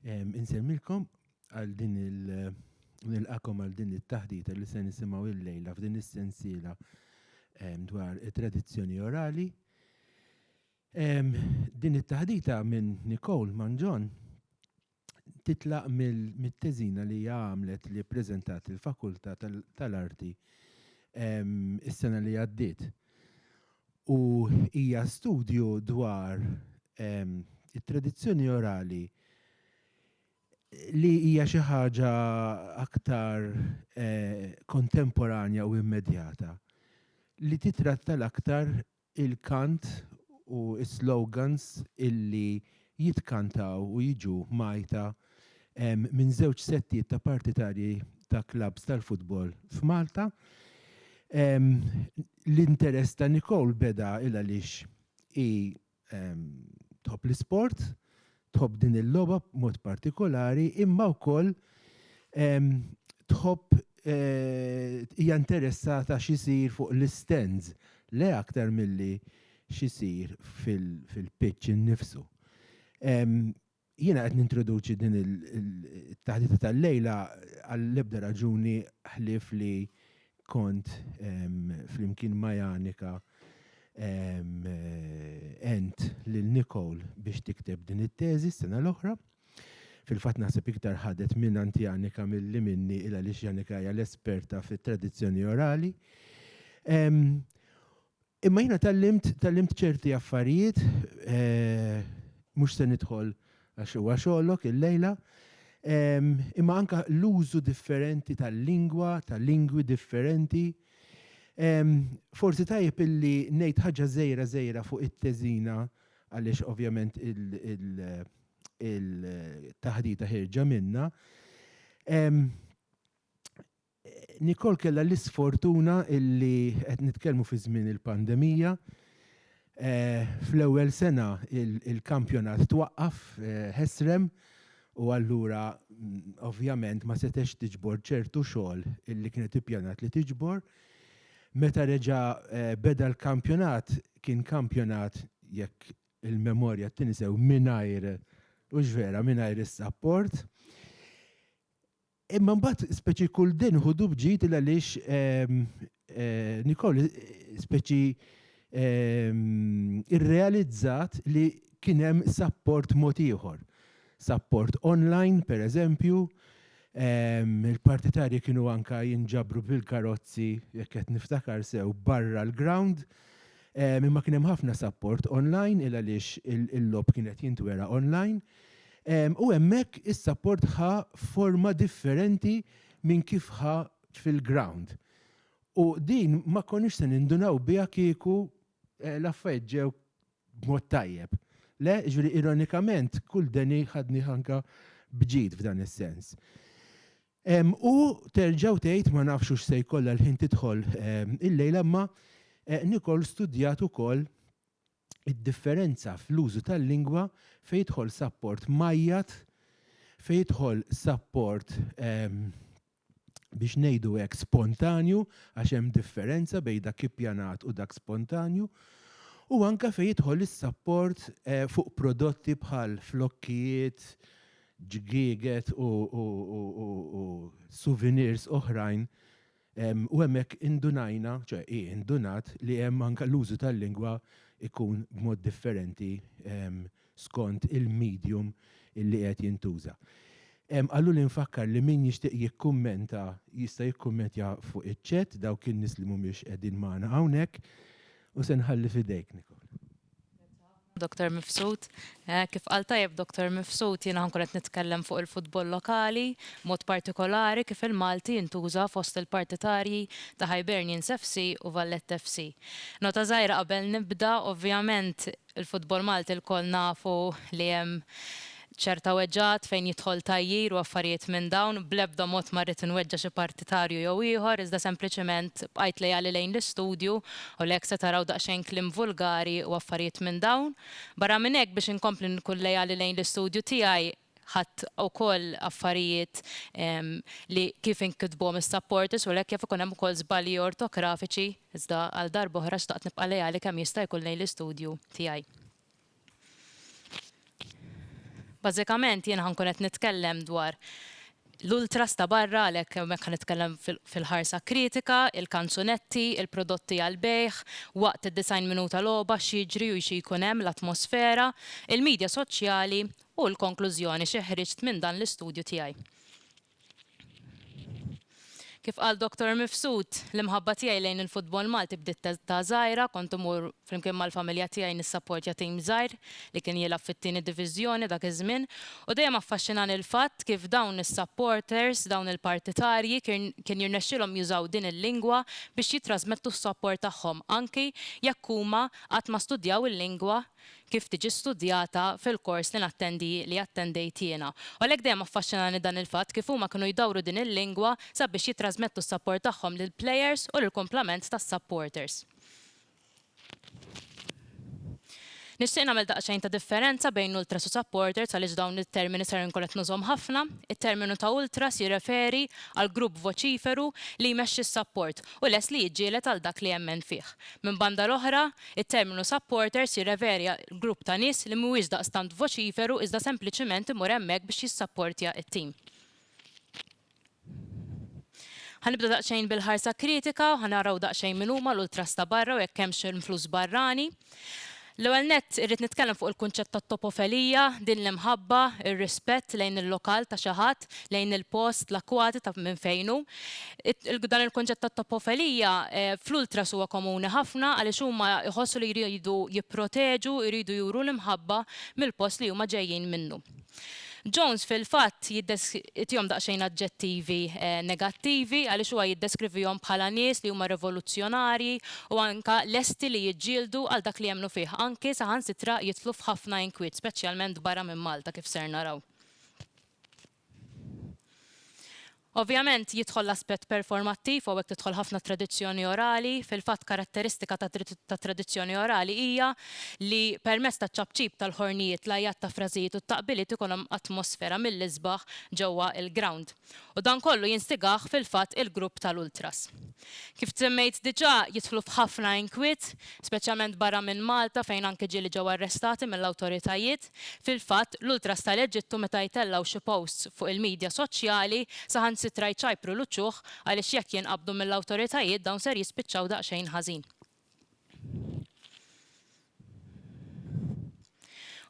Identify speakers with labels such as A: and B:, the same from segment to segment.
A: Insemmilkom għal din il-nilqakom għal din it-taħdita li se nisimgħu il-lejla f'din is-sensiela dwar it-tradizzjoni orali. Din it-taħdita minn Nicole Manġon titlaq mit-teżina li hija għamlet li ppreżentat il-Fakultà tal-Arti is-sena li għaddiet. U hija studju dwar it-tradizzjoni orali li hija xi ħaġa aktar kontemporanja u immedjata li titratta l-aktar il-kant u s-slogans illi jitkantaw u jiġu mgħajta minn żewġ settijiet ta' partitarji ta' klabbs tal-futbol f'Malta. L-interess ta' Nicole beda il għaliex hi tħobb l-isport, tħobb din il-logħba b'mod partikolari imma wkoll tħobb hija interessata x'isir fuq l-istands le aktar milli x'isir fil-pitch innifsu. Jiena qed nintroduċi din it-taħdita tal-lejla għall-ebda raġuni ħlief li Kont flimkien ma' Janika għent lil Nicole biex tikteb din it-teżi s-sena l-oħra. Fil-fatt naħseb iktar ħadet mingħand Janika milli minni il għaliex Janika hija l-esperta fit-tradizzjoni orali. Imma jiena tgħallimt tgħallimt ċerti affarijiet, mhux se nidħol għax huwa xogħlok illejla, imma anke l-użu differenti tal-lingwa, ta' lingwi differenti. Forsi tajjeb illi ngħid ħaġa żgħira żgħira fuq it-teżina għaliex ovvjament il-taħdita ħierġa minnha. Nicole kellha l-isfortuna illi qed nitkellmu fi żmien il-pandemija. Fl-ewwel sena il-kampjonat twaqqaf ħesrem u allura ovvjament ma setgħetx tiġbor ċertu xogħol illi kienet ippjanat li tiġbor. Meta reġa' beda l-kampjonat kien kampjonat, jekk il-memorja ttini sew, mingħajr, hux vera, mingħajr is-sapport. Imma mbagħad speċi kull din ħudu bġid il għaliex Nicole speċi irrealizzat li kien hemm sapport mod ieħor. Sapport online, pereżempju, il-partitarji kienu anke jinġabru bil-karozzi, jekk qed niftakar sew, barra l-ground, imma kien hemm ħafna sapport online il għaliex il-logħob kien qed jintwera online. U hemmhekk is-sapport ħa forma differenti minn kif ħa fil-ground. U din ma konniex se nindunaw biha kieku l-affarijiet ġew b'mod tajjeb. Le, ġifieri ironikament kull deni ħadnih anke b'ġid f'dan is-sens. U terġa' u tgħid, ma nafx hux se jkollha l-ħin tidħol illejla, imma Nicole studjat ukoll id-differenza fl-użu tal-lingwa fejn jidħol sapport mgħajjat, fejn jidħol sapport ehm, biex ngħidu hekk spontanju għax hemm differenza bejn dak ippjanat u dak spontanju u anke fejn jidħol is-sapport eh, fuq prodotti bħal flokkijiet, ġgieget u, u, u, u, u souvenirs oħrajn U hemmhekk indunajna, ċe hi indunat li hemm anke l-użu tal-lingwa jkun b'mod differenti skont il-medium li qed jintuża. Qaluli nfakkar li min jixtieq jikkummenta jista' jikkummentja fuq iċ-chat dawk in-nies li mhumiex qegħdin magħna hawnhekk u se nħalli f'idejk Nicole.
B: Doktor Mifsud, Kif qal tajjeb Doktor Mifsud, jiena ħankun qed nitkellem fuq il-futbol lokali, b'mod partikolari kif il-Malti jintuża fost il-partitarji ta' Hibernians FC u Valletta FC. Nota żgħira qabel nibda, ovvjament il-futbol Malti lkoll nafu li hemm Ċerta weġgħat fejn jidħol tgħajjir u affarijiet minn dawn, bl-ebda mod ma rrid inweġġa' xi partitarju jew ieħor, iżda sempliċiment bqajt leali lejn l-istudju u li hekk se taraw daqsxejn kliem vulgari u affarijiet minn dawn. Barra minn hekk biex inkompli nkun leali lejn l-istudju tiegħi ħadt ukoll affarijiet li kif inkitbuhom is-supporters u għalhekk jaf ikun hemm ukoll żbalji ortografiċi iżda għal darb'oħra xtaqt nibqa' leali kemm jista' jkun lejn l-istudju tiegħi. Bażikament jien ħa nkun qed nitkellem dwar l-ultras ta' barra għalhekk hemmhekk ħa nitkellem fil-ħarsa kritika, il-kanzunetti, il-prodotti għall-bejgħ, waqt id-90 minuta logħba x'jiġri u xi jkun hemm, l-atmosfera, il-midja soċjali u l-konklużjoni xi ħriġt minn dan l-istudju tiegħi. Kif qal Doctor Mifsud, L-imħabba tiegħi lejn il-futbol Malti bdiet t'età żgħira, kont imur flimkien mal-familja tiegħi nissapportja tim żgħir li kien jilgħab fit-tieni diviżjoni dak iż-żmien u dejjem affaxxinani l-fatt kif dawn is-supporters, dawn il-partitarji kien jirnexxilhom jużaw din il-lingwa biex jittrasmettu s-sapport tagħhom anki jekk huma qatt ma studjaw il-lingwa kif tiġi studjata fil-kors li nattendi li attendejt jiena. U għalhekk dejjem affaxxinani dan il-fatt kif huma kienu jdawru din il-lingwa sabiex jittrażmettu s-sapport tagħhom lill-plejers u lill-kumplament tas-sapporters. Nixtieq nagħmel daqsxejn ta' differenza bejn ultras u sapporters għaliex dawn it-termini ser inkun qed nużhom ħafna. It-terminu ta' ultras jirreferi għal grupp voċiferu li jmexxi s-sapport u lest li jiġġieled għal dak li jemmen fih. Minn banda l-oħra, It-terminu supporters jirreferi għal grupp ta' nies li mhuwiex daqstant voċiferu iżda sempliċiment imur hemmhekk biex jissapportja t-tim. Ħa nibda daqsxejn bil-ħarsa kritika u ħa naraw daqsxejn min huma l-ultras ta' barra u jekk hemmx influss barrani. L-ewwel nett irrid nitkellem fuq il-kunċett tat-topofelija, din l-imħabba, ir-rispett lejn il-lokal ta' xi ħadd, tat-topp lejn il-post, l-akkwati ta' minn fejn hu. Dan il-kunċett ta' toppofelija fl-ultras huwa komuni ħafna għaliex huma jħossu li jridu jipproteġu, jridu juru l-imħabba mill-post li huma ġejjin minnu. Jones fil-fatt jtihom daqsxejn aġġettivi negattivi għaliex huwa jiddeskrivihom bħala nies li huma rivoluzzjonarji u anke lesti li jiġġieldu għal dak li jemmnu fih, anke saħansitra jidħlu f'ħafna inkwiet, speċjalment barra minn Malta kif ser naraw. Ovvjament, jidħol l-aspett performattiv u hawnhekk tidħol ħafna t-tradizzjoni orali. Fil-fatt, karatteristika tat-tradizzjoni orali hija li permezz taċ-ċapċip tal-ħornijiet, l-għajjat ta' frażijiet u t-taqbiliet ikun hemm atmosfera mill-isbaħ ġewwa l-grawnd. U dan kollu jinstigah fil-fatt il-grupp tal-ultras. kif semmejt diġà, jidħlu f'ħafna inkwiet, speċjalment barra minn Malta fejn anki ġieli ġew arrestati mill-awtoritajiet. Fil-fatt, l-ultras tal-Eġittu meta jtellgħu xi posts fuq il-midja soċjali, saħansitra jċajpru l-uċuħ għaliex jekk jinqabdu mill-awtoritajiet dawn ser jispiċċaw daqsxejn ħażin.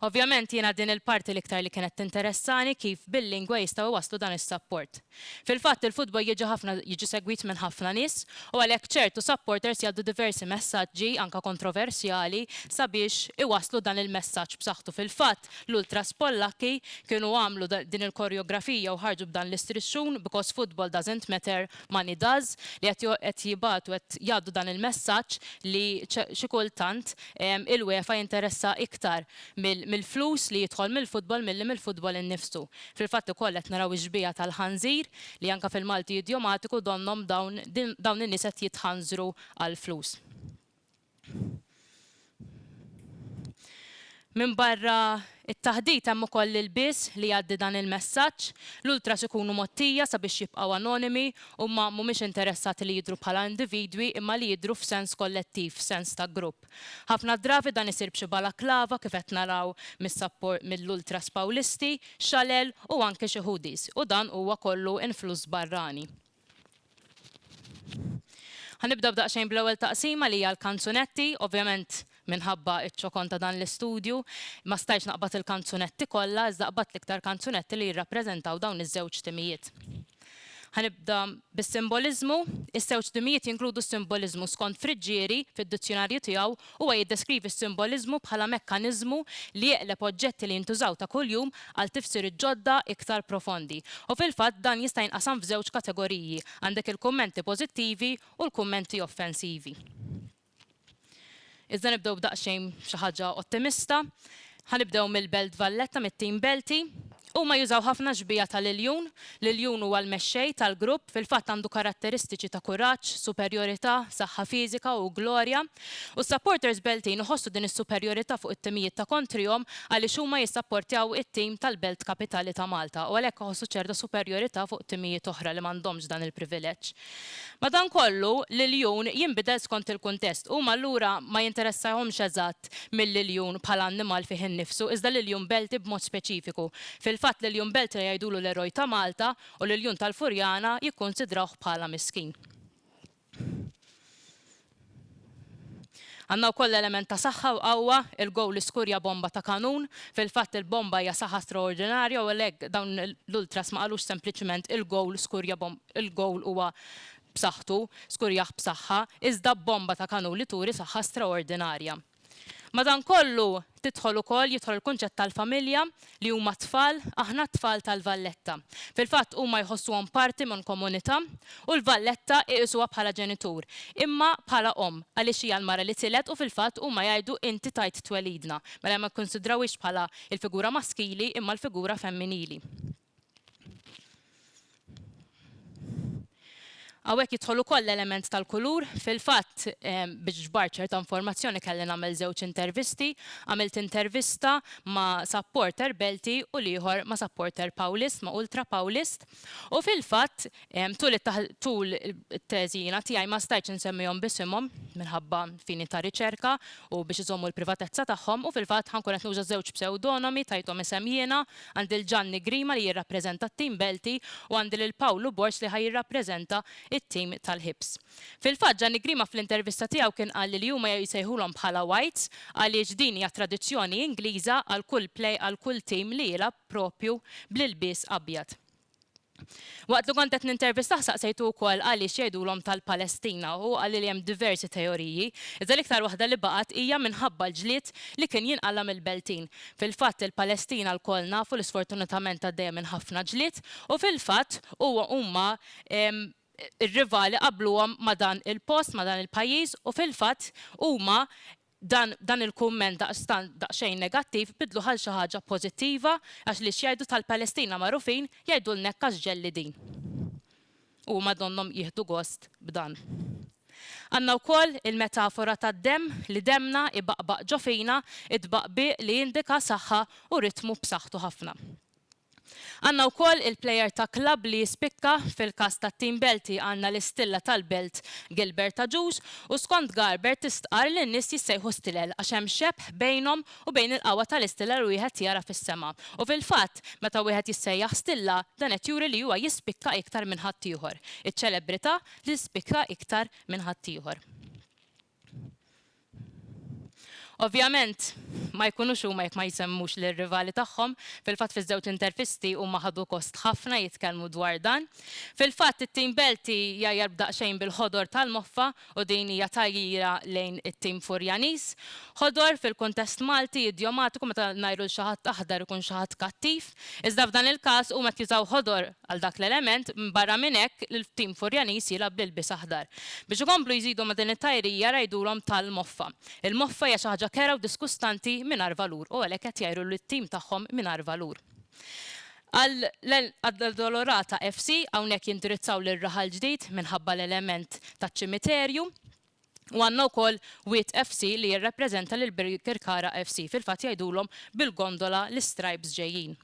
B: Ovvjament jiena din il-parti l-iktar li kienet tinteressani kif bil-lingwa jistgħu jwasslu dan is-sapport. Fil-fatt il-futbol jiġi ħafna jiġi segwit minn ħafna nies u għalhekk ċertu supporters jgħaddu diversi messaġġi anke kontroversjali sabiex iwasslu dan il-messaġġ b'saħħtu fil-fatt l-ultras Pollakki kienu għamlu din il-korjografija u ħarġu b'dan l-istrixxun because football doesn't matter Money Does li qed qed jibgħatu qed jgħaddu dan il-messaġġ li xi kultant il-UEFA jinteressha iktar mill-flus li jidħol mill-futbol milli mill-futbol innifsu. Fil-fatt ukoll qed naraw ix-xbieha tal-ħanżir li anke fil-Malti idiomatiku donnhom dawn dawn in-nies qed jitħanżru għall-flus. Minbarra t-taħdit hemm ukoll l-ilbies li jgħaddi dan il-messaġġ. L-ultras ikunu mgħottija sabiex jibqgħu anonimi, huma mhumiex interessati li jidhru bħala individwi imma li jidhru f'sens kollettiv, f'sens ta' grupp. Ħafna drabi dan isir b'xi balaklava kif qed naraw mill-ultras Pawlisti, xalel u anki xi hoodies u dan huwa kollu influss barrani. Ħa nibda b'daqsxejn bl-ewwel taqsima li hija l-kanzunetti. Ovvjament minħabba ċ-ċokon ta' dan l-istudju, ma stajtx naqbad il-kanzunetti kollha, iżda qbadt l-iktar kanzunetti li jirrappreżentaw dawn iż-żewġ timijiet. Ħa nibda bis-simboliżmu. Iż-żewġ timijiet jinkludu s-simboliżmu skont Friggieri fid-dizzjunarju tiegħu Huwa jiddeskrivi s-simboliżmu bħala mekkaniżmu li jeqleb oġġetti li jintużaw ta' kuljum għal tifsiriet ġodda iktar profondi. U fil-fatt dan jista' jinqasam f'żewġ kategoriji, għandek il-kummenti pożittivi u l-kummenti offensivi. Iżda nibdew b'daqsxejn b'xi ħaġa ottimista. Ħa nibdew mill-Belt Valletta mit-tim Belti. Huma jużaw ħafna xbieha ta' l-iljun. L-iljun huwa l-mexxej tal-grupp, fil-fatt għandu karatteristiċi ta' kuraġġ, superjorità, saħħa fiżika u glorja. U s-supporters Beltin iħossu din is-superjorità fuq it-timijiet ta' kontrihom għaliex huma jissapportjaw it-tim tal-Belt Kapitali ta' Malta u għalhekk iħossu ċerta superjorità fuq timijiet oħra li m'għandhomx dan il-privileġġ. Madankollu, l-iljun jinbidel skont il-kuntest. Huma allura ma jinteressahomx eżatt mill-iljun bħala annimal fih innifsu, iżda l-iljun Belti b'mod speċifiku. Fil-fatt, l-iljun Belti jgħidulu l-eroj ta' Malta u l-iljun tal-Furjana jikkunsidrawh bħala miskin. Għandna wkoll element ta' saħħa u qawwa, il-gowl li skurja bomba ta' kanun. Fil-fatt il-bomba hija saħħa straordinarja u għalhekk dawn l-ultras ma qalux sempliċement il-gowl skurja il-gowl huwa b'saħħtu, skurjah b'saħħa, iżda b'bomba ta' kanun li turi saħħa straordinarja. Madankollu, tidħol ukoll, jidħol il-kunċett tal-familja, li huma t-tfal, aħna t-tfal tal-Valletta. Fil-fatt huma jħossuhom parti minn komunità u l-Valletta iqisuha bħala ġenitur, imma bħala omm, għaliex hija l-mara li tiled u fil-fatt huma jgħidu inti tajt twelidna, mela ma jikkunsidrawhiex bħala l-figura maskili imma l-figura femminili. Hawnhekk jidħol ukoll l-element tal-kulur. Fil-fatt, biex ġbart ċerta informazzjoni kelli nagħmel żewġ intervisti. Għamilt intervista ma' supporter Belti u l-ieħor ma' supporter Pawlist, ma' ultra Pawlist. U fil-fatt, Tul it-teżi jiena tiegħi ma stajtx insemmihom b'isimhom minħabba fini ta' riċerka u biex iżommu l-privatezza tagħhom u fil-fatt ħa nkun qed nuża żewġ psewdonomi, tajthom isem jiena, għandi 'l Ġanni Grima li jirrappreżenta t-tim Belti u għandi lil Pawlu Borz li ħa jirrappreżenta t-tim tal-Hibs. Fil-fatt Ġanni Grima fl-intervista tiegħu kien qalli li huma jsejħulhom bħala Whites għaliex din hija tradizzjoni Ingliża għal kull għal kull tim li jilgħab proprju bl-ilbies abjad. Waqt li kont qed nintervistah saqsejtu wkoll għaliex jgħidulhom tal-Palestina u hu qalli li hemm diversi teoriji, iżda l-iktar waħda li baqgħet hija minħabba l-ġlied li kien jinqala' mill-Beltin. Fil-fatt il-Palestina lkoll nafu li sfortunatament għaddejja minn ħafna ġlied u fil-fatt huwa huma r-rivali qabluhom ma' dan il-post, ma' dan il-pajjiż u fil-fatt huma Dan dan il-kumment daqstant daqsxejn negattiv biddluh għal xi ħaġa pożittiva għax li x'jgħidu tal-Palestina magħrufin jgħidulna hekk għax ġellidin. U huma donnhom jieħdu gost b'dan. Għandna wkoll il-metafora tad-demm li demmna ibaqbaq ġo fina, it-tbaqbiq li jindika saħħa u ritmu b'saħħtu ħafna. Għandna wkoll il-plejer ta' klabb li jispikka, fil-każ tat-tim Belti għandna l-istilla tal-Belt Gilbert Agius u skont Garber tistqarr li n-nies jissejħu stilel għax hemm xebh bejnhom u bejn il-qawwa tal-istilla li wieħed jara fis-sema u fil-fatt meta wieħed jissejjaħ stilla dan qed juri li huwa jispikka iktar minn ħaddieħor, iċ-ċelebrità li tispikka iktar minn ħaddieħor. Ovvjament, ma jkunux huma jekk ma jsemmux lir-rivali tagħhom. Fil-fatt fiż-żewġ intervisti huma ħadu gost ħafna jitkellmu dwar dan. Fil-fatt it-tim Belti jgħajjar b'daqsxejn bil-ħodor tal-moffa u din hija tgħajjira lejn it-tim Furjaniż. Ħodor fil-kuntest Malti idjomatiku meta ngħajru 'l xi ħadd aħdar ikun xi ħadd kattiv. Iżda f'dan il-każ huma qed jużaw ħodor għal dak l-element, barra minn hekk il-tim Furjaniż jilgħab bl-ilbies aħdar. Biex ikomplu jżidu ma' din it-tajrija rgħidulhom tal-moffa. Il-moffa hija xi ħaġa kerha u diskustanti mingħajr valur u għalhekk qed jgħiru lit-tim tagħhom mingħajr valur. Għall-Addolorata FC hawnhekk jindirizzaw lil Raħal Ġdid minħabba l-element taċ-ċimiterju u għandna wkoll Wied FC li jirrappreżenta lil Birkirkara FC, fil-fatt jgħidulhom bil-gondola l-istrajps ġejjin.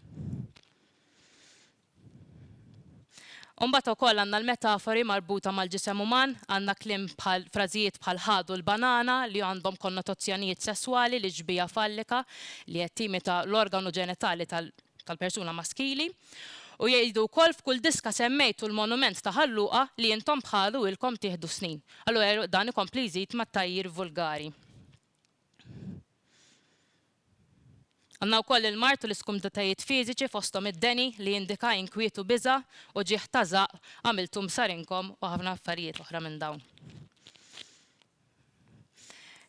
B: U mbagħad ukoll għandna l-metafori marbuta mal-ġisem uman, għandna kliem bħal, frażijiet bħal ħadu l-banana li għandhom konnotozzjonijiet sesswali li xbieha fallika li qed timita l-organu ġenitali tal-persuna maskili. U jgħidu wkoll f'kull diska semmejtu l-monument ta' Ħal Luqa li intom bħalu ilkom tieħdu snin. Allura dan ikompli jżid mat-tgħajjir vulgari. Għandna wkoll il-mard u l-iskumditajiet fiżiċi fosthom id-deni li jindika inkwiet u biża', uġigħ ta' żaqq, għamilthom b'sarinkom u ħafna affarijiet oħra minn dawn.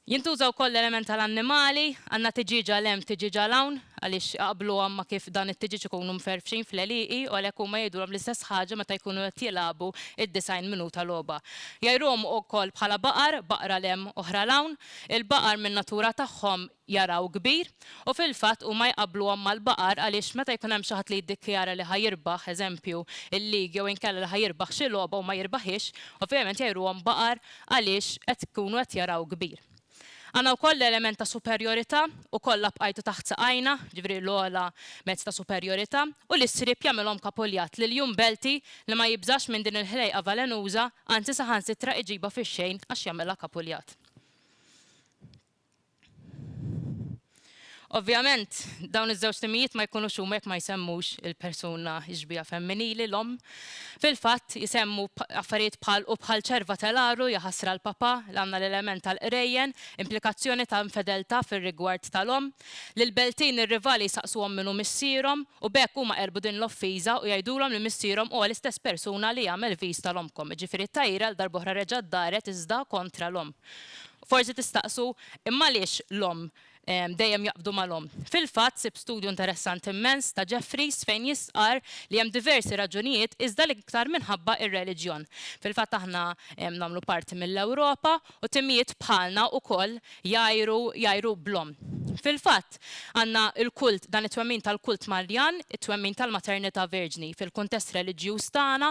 B: Jintuża wkoll l-element tal-annimali, għandna tiġieġ għal hemm tiġieġ għal hawn għaliex iqabbluhom ma' kif dawn it-tiġieġ ikunu mferrfxin fl-għelieqi u għalhekk huma jidhruhom l-istess ħaġa meta jkunu qed jilagħbu d-90 minuta logħba. Jgħiruhom ukoll bħala baqar, baqra 'l hemm, oħra 'l hawn. Il-baqar min-natura tagħhom jaraw kbir u fil-fatt huma jqabbluhom mal-baqar għaliex meta jkun hemm xi ħadd li jiddikjara li ħa jirbaħ, eżempju, il-league jew inkella li ħa jirbaħ xi logħba u ma jirbahiex, ovvjament jgħiruhom baqar għaliex qed ikunu qed jaraw kbir. Għandna wkoll l-element ta' superjorità u kollha bqajtu taħt saqajna, jiġifieri l-ogħla mezz ta' superjorità, u li s-sriep jagħmilhom kapuljat lil Jum Belti li ma jibżax minn din il-ħlejqa valenuża, anzi saħansitra iġibha fix-xejn għax jagħmilha kapuljat. Ovvjament, dawn iż-żewġ timijiet ma jkunux huma jekk ma jsemmux il-persuna, ix-xbieha femminili, l-omm. Fil-fatt, isemmu affarijiet bħal u bħal ċerva tal-għaru, jaħasra l-papà, għandna l-element tal-qrejjen, implikazzjoni ta' infedeltà fir-rigward tal-omm, lill-beltin ir-rivali jsaqsuhom min hu missierhom, u b'hekk huma qerbu din l-offiża u jgħidulhom li missierhom huwa l-istess persuna li għamel viż tal-ommkom, jiġifieri t-tgħajjira għal darb'oħra reġgħet daret iżda kontra l-omm. Forsi tistaqsu, Imma għaliex l-omm dejjem jaqbdu mal-omm? Fil-fatt, sibt studju interessanti mmens ta' Jeffreys fejn jistqarr li hemm diversi raġunijiet iżda l-iktar minħabba r-reliġjon. Fil-fatt aħna nagħmlu parti mill-Ewropa u timijiet bħalna wkoll jgħajru jgħajru bl-omm. Fil-fatt, għandna l-kult, dan it-twemmin tal-kult Marjan, it-twemmin tal-maternità virġni. Fil-kuntest reliġjuż tagħna,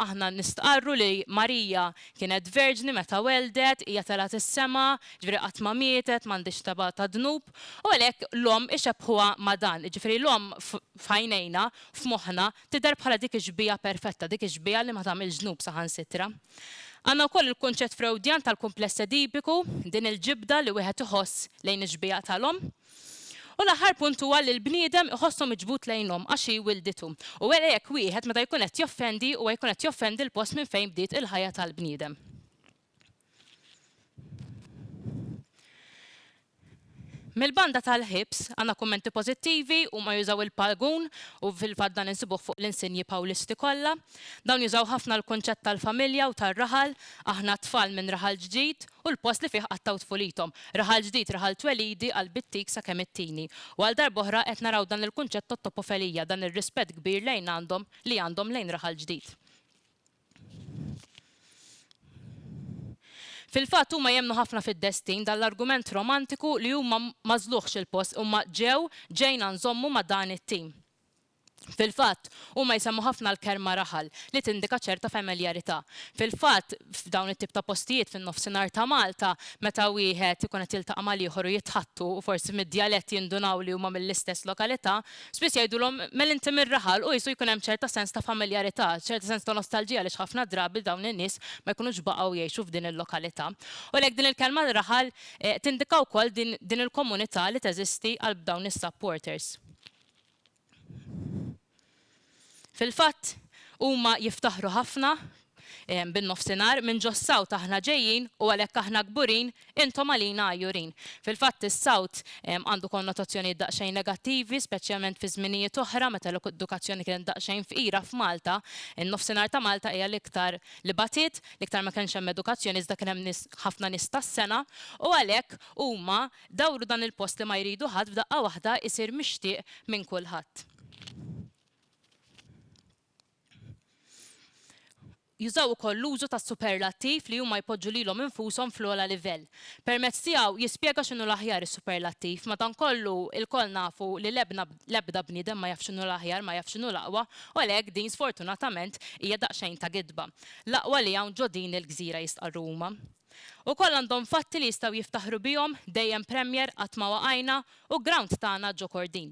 B: aħna nistqarru li Marija Kienet verġni meta welldet, hija telgħet is-sema, jiġifieri qatt ma mietet, m'għandhiex taba ta' dnub, u għalhekk l-omm ixebbħuha ma' dan, jiġifieri l-omm f'għajnejna, f'moħħna, tidher bħala dik ix-xbieha perfetta, dik ix-xbieha li ma tagħmilx dnub saħansitra. Għandna wkoll il-kunċett Freudjan tal-kumpless Edipiku, din il-ġibda li wieħed iħoss lejn ix-xbieha tal-omm. U l-aħħar punt huwa li l-bniedem iħossu miġbud lejnhom għax hi wilditu. U wera jekk wieħed meta jkun qed joffendi huwa jkun qed joffendi l-post minn fejn bdiet il-ħajja tal-bniedem. Mill-banda tal-ħibs, għandna kummenti pożittivi, huma jużaw il-paragun, u fil-fatt dan insibuh fuq l-insinji Pawlisti kollha. Dawn jużaw ħafna l-kunċett tal-familja u tar-raħal, aħna t-tfal minn raħal ġdid, u l-post li fih qattgħu tfulithom. Raħal ġdid, raħal twelidi għal bittik sakemm it-tieni. U għal darb'oħra qed naraw dan il-kunċett tat-topofelija, dan ir-rispett kbir lejn għandhom, li għandhom lejn raħal ġdid. Fil-fatt huma jemmnu ħafna fid-destin, dan l-argument romantiku li huma m'għażluhx il-post, imma ġew, ġejna nżommu ma' dan it-tim. Fil-fatt, huma jsemmu ħafna l-kelma raħal, li tindika ċerta femiljarità. Fil-fatt, f'dawn it-tip ta' postijiet fin-Nofsinhar ta' Malta, meta wieħed ikun qed jiltaqa' mal-ieħor u jitħaddtu, u forsi mid-djalett jindunaw li huma mill-istess lokalità, spiss jgħidulhom, Mel inti mir-raħal? u qisu jkun hemm ċerta sens ta' familjarità, ċerta sens ta' nostalġija għaliex ħafna drabi dawn in-nies ma jkunux baqgħu jgħixu f'din il-lokalità. U għalhekk din il-kelma raħal tindika wkoll din il-komunità li teżisti għal dawn is-supporters. Fil-fatt, huma jiftaħru ħafna bin-Nofsinhar, minn ġos-South aħna ġejjin u għalhekk aħna kburin, intom għalina għajjurin. Fil-fatt, is-South għandu konnotazzjonijiet daqsxejn negattivi, speċjalment fi żminijiet oħra meta l-edukazzjoni kienet daqsxejn fqira f'Malta. In-Nofsinhar ta' Malta hija l-iktar li batiet, l-iktar ma kienx hemm edukazzjoni iżda kien hemm nies, ħafna nies tas-sengħa u għalhekk huma Dawru dan il-post li ma jridu ħadd f'daqqa waħda jsir mixtieq minn kulħadd. Jużaw ukoll l-użu tas-superlattiv li huma jpoġġu lilhom infushom fl-ogħla livell. Permezz tiegħu jispjega x'inhu l-aħjar is-superlattiv. Madankollu, ilkoll nafu li l-ebna l-ebda bniedem ma jaf x'inhu l-aħjar, ma jaf x'inhu l-aqwa, u għalhekk din sfortunatament hija daqsxejn ta' gidba. L-aqwa li hawn ġo din il-gżira jistqarru huma. Ukoll għandhom fatti li jistgħu jiftaħru bihom, dejjem Premier, qatt ma waqajna, u ground tagħna ġo Kordin.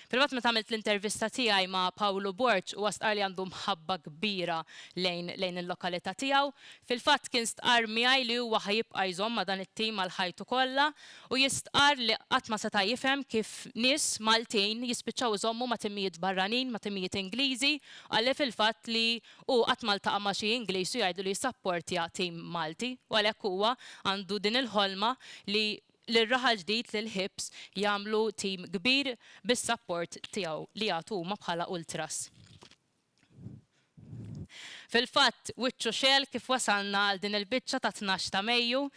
B: Privat meta għamilt l-intervista tiegħi ma' Pawlu Borg huwa stqarr li għandu mħabba kbira lejn lejn il-lokalità tiegħu. Fil-fatt kien stqarr miegħi li huwa ħa jibqa' jżomm ma' dan it-tim għal ħajtu kollha u jistqarr li qatt ma seta' jifhem kif nies Maltin jispiċċaw iżommu ma' timijiet barranin, ma' timijiet Ingliżi, qalli fil-fatt li Hu qatt ma ltaqa' ma' xi Ingliż u jgħidlu li jissapportja tim Malti u għalhekk huwa għandu din il-ħolma li lir-Raħal Ġdid, lil Hibs, jagħmlu tim kbir bis-sapport tiegħu li jagħtu huma bħala ultras. Fil-fatt, wiċċu xegħel kif wasalna għal din il-biċċa ta' tnax ta' Mejju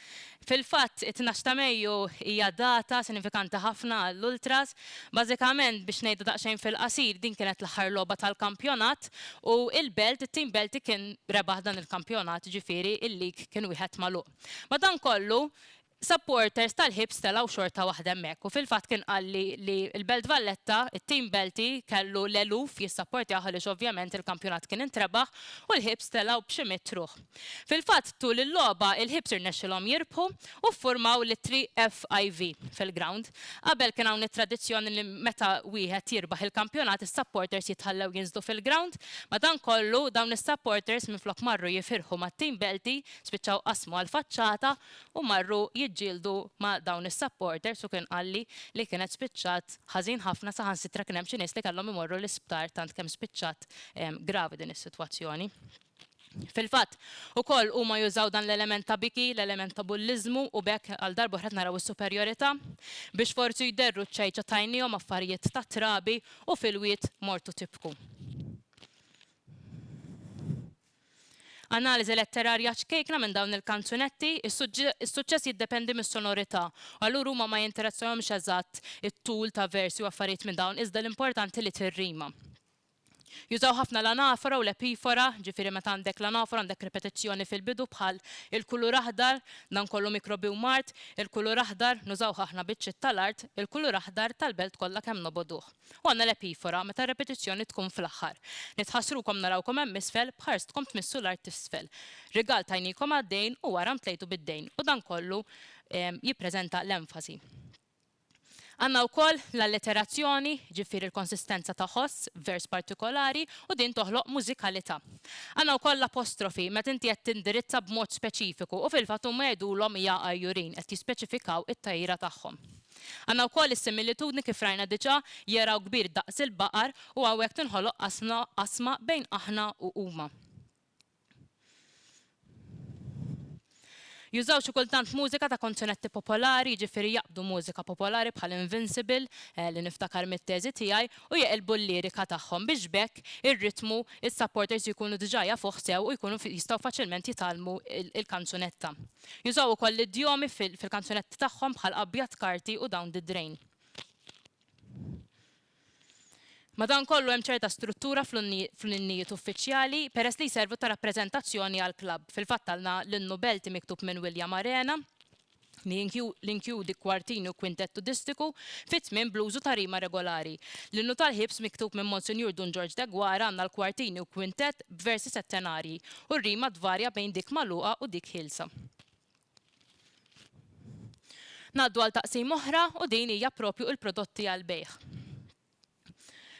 B: Fil-fatt, it-tnax ta' Mejju hija data sinifikanti ħafna għall-Ultras. Bażikament, biex ngħidu daqsxejn fil-qasir, din kienet l-aħħar logħba tal-kampjonat u il-Belt, it-tim Belti kien rebaħ dan il-kampjonat, jiġifieri il-league kien wieħed magħluq. Madankollu, supporters tal-Hibs telgħu xorta waħda hemmhekk u fil-fatt kien qalli li l-Belt Valletta, it-tim Belti, kellu l-eluf jissapportjah għaliex ovvjament il-kampjonat kien intrebaħ u l-Hibs telgħu b'xi mitt ruħ. Fil-fatt, tul il-logħba, il-Hibs irnexxilhom jirbħu u ffurmaw l-ittri FIV fil-grawnd. Qabel kien hawn it-tradizzjoni li meta wieħed jirbaħ il-kampjonat is-supporters jitħallew jinżlu fil-grawnd. Madankollu, dawn is-supporters minflok marru jifirħu mat-tim Belti, spiċċaw qasmu għall-faċċata u marru jiġġieldu ma' dawn is-supporters u kien qalli li kienet spiċċat ħażin ħafna saħansitra kien hemm xi nies li kellhom imorru l-isptar tant kemm spiċċat gravi din is-sitwazzjoni. Fil-fatt, ukoll huma jużaw dan l-element ta' biki, l-element ta' bulliżmu u b'hekk għal darba oħra qed naraw is-superjorità. Biex forsi jderru ċ-ċajċa tajniehom affarijiet ta' trabi u fil-wied mortu tibku. Analiżi letterarja ċkejkna minn dawn il-kanzunetti, is-suċċess jiddependi mis-sonorità u allura huma ma jinteressahomx eżatt it-tul ta' versi u affarijiet minn dawn iżda l-importanti li tirrima. Jużaw ħafna l-anafora u l-epifora, ġifieri meta għandek l-anafora għandek ripetizzjoni fil-bidu bħal, il-kulur aħdar, dan kollu mikrobi u mard, il-kulur aħdar, nużawh aħna biċċiet tal-art, il-kulur aħdar, tal-belt kollha kemm nobogħduh. U għandna l-epifora, meta r-ripetizzjoni tkun fl-aħħar. Nitħassrukom narawkom hemm isfel, b'ħarstkom tmissu l-art t'isfel. Rigal tajniekom għad-dejn u wara mtlejtu bid-dejn. U dan kollu jippreżenta l-enfasi. Għandna wkoll l-alleterazzjoni, jiġifieri l-konsistenza ta' ħoss f'vers partikolari u din toħloq mużikalità. Għandna wkoll l-apostrofi meta inti qed tindirizza b'mod speċifiku u fil-fatt huma jgħidulhom ja għajjurin, qed jispeċifikaw it-tgħira tagħhom. Għandna wkoll is-similitudni kif rajna diġà, jaraw kbir daqs il-baqar u hawnhekk tinħoloq qasma bejn aħna u huma. Jużaw xi kultant mużika ta' konzunetti popolari, jiġifieri jaqbdu mużika popolari bħal Invincible, li niftakar mit-teżi tiegħi, u jeqilbu l-lirika tagħhom biex b'hekk ir-ritmu s-supporters jkunu diġà jafuh sew u jkunu jistgħu faċilment jitgħallmu l-kanzunetta. Jużaw ukoll l-idjomi fil-kanzunetti tagħhom bħal abjad karti u down the drain. Madankollu hemm ċerta struttura fl-innijiet uffiċjali peress li jservu ta' rappreżentazzjoni għall-klabb. Fil-fatt għandna l-innu Belti miktub minn William Arena li jinkjudi kwartini u kwintett tudistiku fit-tmiem bl-użu ta' rima regolari. L-innu tal-Ħiebs miktub minn Monsinjur Dun Ġorġ Degwara għandna l-kwartini u kwintett b'versi settenarji u r-rima tvarja bejn dik magħluqa u dik ħielsa. Ngħaddu għal taqsima oħra u din hija proprju il-prodotti għall-bejgħ.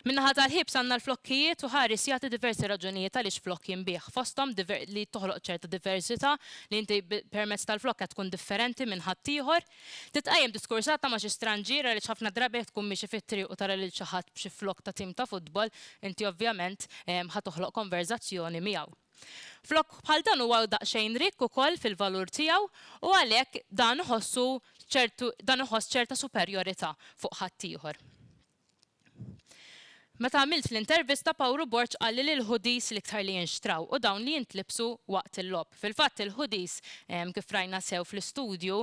B: Min-naħa tal-ħiebs għandna l-flokkijiet u Haris jagħti diversi raġunijiet għaliex flokk jinbiegħ, fosthom li toħloq ċerta diversità, li inti permezz tal-flokk qed tkun differenti minn ħaddieħor. Titqajjem diskursata ma' xi stranġier għaliex ħafna drabi jekk tkun miexi fit-triq u tara lil xi ħadd b'xi flokk ta' tim ta' futbol, inti ovvjament ħa toħloq konverżazzjoni miegħu. Flokk bħal dan huwa daqsxejn rikk ukoll fil-valur tiegħu u għalhekk dan iħossu ċertu dan iħoss ċerta superjorità fuq ħaddieħor. Meta għamilt l-intervista Pawru Borg qalli li l-hoodies l-iktar li jinxtraw u dawn li jintlibsu waqt il-logħob. Fil-fatt il-hoodies kif rajna sew fl-istudju,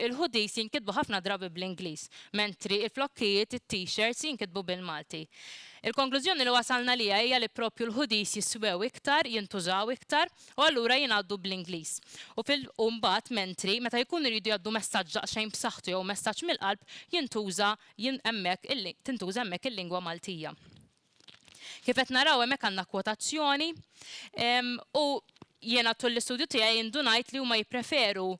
B: il-hoodies jinkitbu ħafna drabi bl-Ingliż, mentri l-flokkijiet, it-t-shirts, jinkitbu bil-Malti. Il-konklużjoni li wasal naliha hija li proprju l-hoodies jiswew iktar, jintużaw iktar, u allura jingħaddu bl-Ingliż. U fil u mbagħad mentri, meta jkunu jridu jgħaddu messaġġ daqsxejn b'saħħtu jew messaġġ mill-qalb, jintuża jin hemmhekk il tintuża hemmhekk il-lingwa Maltija. Kif qed naraw hemmhekk għandna kwotazzjoni, u jiena tul l-istudju tiegħi indunajt li huma jippreferu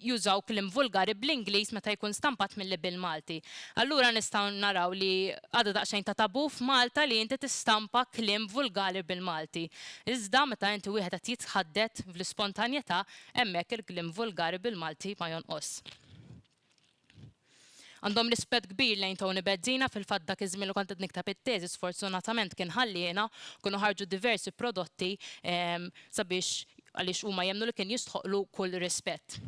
B: jużaw kliem vulgari bl-Ingliż meta jkun stampat milli bil-Malti. Allura nistgħu naraw li għadha daqsxejn ta' tabù f'Malta li inti tistampa kliem vulgari bil-Malti. Iżda meta inti wieħed qed jitħaddet fl-ispontanjetà, hemmhekk il-kliem vulgari bil-Malti ma jonqos. Għandhom rispett kbir lejn Tony Bezzina, fil-fatt dak iż-żmien li kont qed nikteb it-teżi sfortunatament kien ħalliena, kienu ħarġu diversi prodotti sabiex għaliex huma jemmnu li kien jistħoqqlu kull rispett.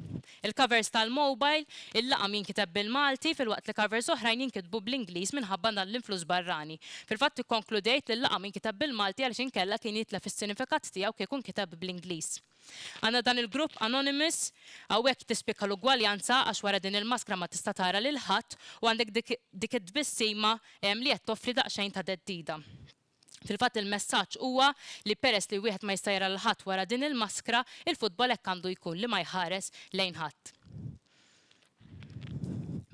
B: Il-covers tal-mobile illaqam jinkiteb bil-Malti filwaqt li covers oħrajn jinkitbu bl-Ingliż minħabba dan l-influss barrani. Fil-fatt ikkonkludejt li l-laqam inkiteb bil-Malti għaliex inkella kien jitlef is-sinifikat tiegħu kieku nkiteb bl-Ingliż. Għandna dan il-grupp anonymous, hawnhekk tispikka l-ugwaljanza għax wara din il-maskra ma tista' tara lil ħadd u għandek dik it-tbissima li qed toffri daqsxejn ta' theddida. Fil-fatt il-messaġġ huwa li peress li wieħed ma jista' jara lil ħadd wara din il-maskra, il-futbol hekk għandu jkun li ma jħares lejn ħadd.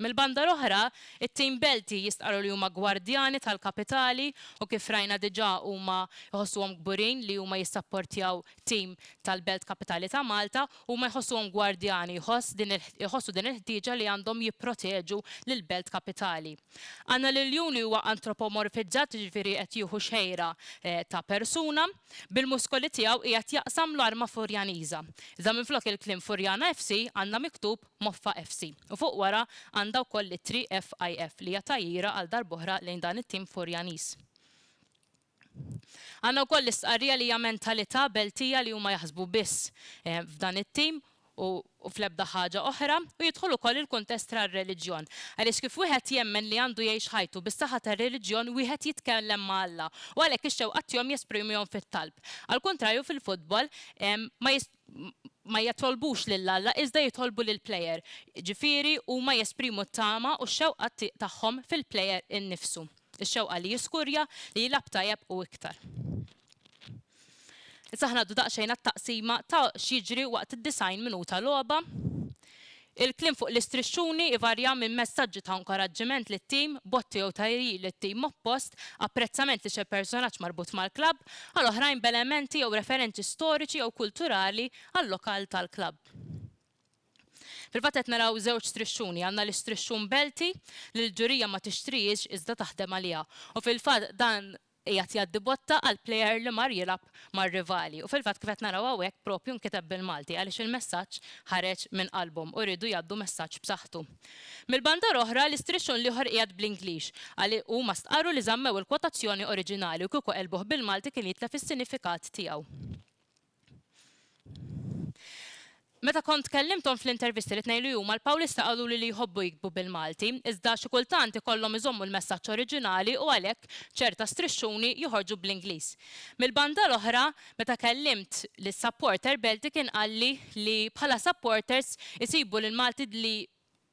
B: Mill-banda l-oħra, it-tim Belti jistqarru li huma gwardjani tal-kapitali u kif rajna diġà huma jħossuhom kburin li huma jissapportjaw tim tal-Belt Kapitali ta' Malta. Huma jħossuhom gwardjani, jħossu din il-ħtieġa li għandhom jipproteġu lill-Belt Kapitali. Għandna liljun li huwa antropomorfizzat jiġifieri qed jieħu xejra ta' persuna. Bil-muskoli tiegħu qiegħed jaqsam l-arma Furjaniża. Iżda minflok il-kliem Furjana FC għandna miktub Moffa FC u fuq wara għandha wkoll l-ittri FIF li hija tgħajjira għal darb'oħra lejn dan it-tim Furjaniż. Għandna wkoll l-istqarrija li hija mentalità Beltija li huma jaħsbu biss f'dan it-tim u fl-ebda ħaġa oħra, u jidħol ukoll il-kuntest tar-reliġjon. Għaliex kif wieħed jemmen li għandu jgħix ħajtu bis-saħħa tar-reliġjon wieħed jitkellem ma' Alla u għalhekk ix-xewqat tiegħu jesprimiehom fit-talb. Għall-kuntrarju fil-futbol ma ma jitolbux lil Alla iżda jitolbu lill-plejer, jiġifieri huma jesprimu t-tama u x-xewqa tagħhom fil-plejer innifsu, ix-xewqa li jiskurja, li jilgħab tajjeb u iktar. Issa aħna ngħaddu daqsxejn għat-taqsima ta' x'jiġri waqt id-90 minuta logħba. Il-kliem fuq l-istrixxuni jvarja minn messaġġi ta' inkoraġġiment lit-tim, botti jew tgħiriji lit-tim oppost, apprezzament li xi persunaġġ marbut mal-klabb, għal oħrajn b'elementi jew referenċi storiċi jew kulturali għal-lokal tal-klabb. Fil-fatt qed naraw żewġ strixxuni, għandna l-istrixxun belti li l-ġurija ma tixtrihiex iżda taħdem għaliha u fil-fatt dan Qiegħed jgħaddi botta għal plejer li mar jilgħab mar-rivali u fil-fatt kif qed naraw hawnhekk propju nkiteb bil-Malti għaliex il-messaġġ ħareġ minn qalbhom u riedu jgħaddu messaġġ b'saħħtu. Mill-banda l-oħra, l-istrixxun l-ieħor qiegħed bl-Ingliż għaliex huma stqarru li żammew il-kwotazzjoni oriġinali u kieku għelbuh bil-Malti kien jitlef is-sinifikat tiegħu. Meta kont kellimthom fl-intervisti li tnejlu huma l-Pawlista qaluli li jħobbu jiktbu bil-Malti, iżda xi kultant ikollhom iżommu l-messaġġ oriġinali u għalhekk ċerta strixxuni joħorġu bl-Ingliż. Mill-banda l-oħra, meta kellimt lis-supporter Belti kien qalli li bħala supporters isibu li l-Malti li